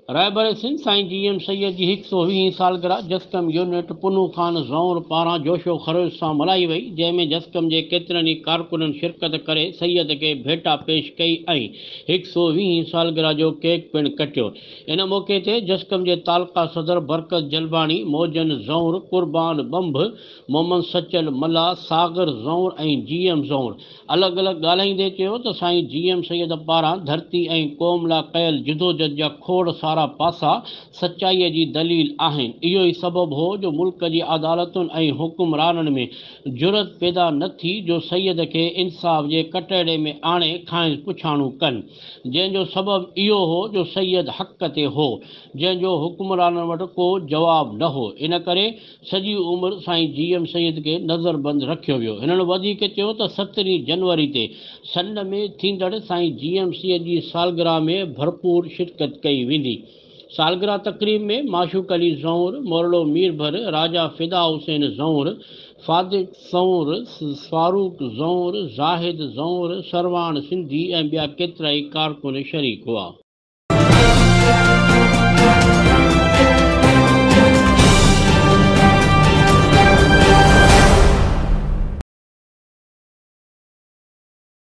رهبر سنڌ سائين G M Syed جي هڪ سئو ويهين سالگرهه جسقم يونٽ پنهون خان زئور پاران جوش و خروش سان ملهائي وئي جنهن ۾ جسقم جي ڪيترن ئي ڪارڪنن شرڪت ڪري سيد کي ڀيٽا پيش ڪئي ۽ هڪ سئو ويهين سالگرهه جو ڪيڪ پڻ ڪٽيو ان موقعي تي جسقم جي تعلقه صدر برڪت جلباڻي، موجن زئونر، قربان ٻنڀ، محمد سچل ملاح، ساغر زئونر ۽ جي ايم زئونر الڳ الڳ ڳالهائيندي چيو ته سائين جي ايم سيد پاران ڌرتي ۽ قوم لا ڪيل جدوجھد جا کوڙ سارا پاسا سچائي جي دليل آهن اهو ئي سبب هو جو ملڪ جي عدالتن ۽ حڪمرانن ۾ جرئت پيدا نه ٿي جو سيد کي انصاف جي ڪٽهڙي ۾ آڻي کانئس پڇاڻو ڪن. جنهن جو سبب اهو هو جو سيد حق تي هو، جنهن جو حڪمرانن وٽ ڪو جواب نه هو، ان ڪري سڄي عمر سائين جي ايم سيد کي نظربند رکيو ويو. هنن وڌيڪ چيو ته سترهين جنوري تي سنڌ ۾ ٿيندڙ سائين جي ايم سيد جي سالگرهه ۾ ڀرپور شرڪت ڪئي ويندي. سالگرهه تقريب ۾ معشوق علي زئونر، مورڙو مير ڀر، راجا فدا حسين زئونر، فادق زئونر، فاروق زئونر، زاهد زئونر، سرواڻ سنڌي ۽ ٻيا ڪيترائي ڪارڪن شريڪ هئا.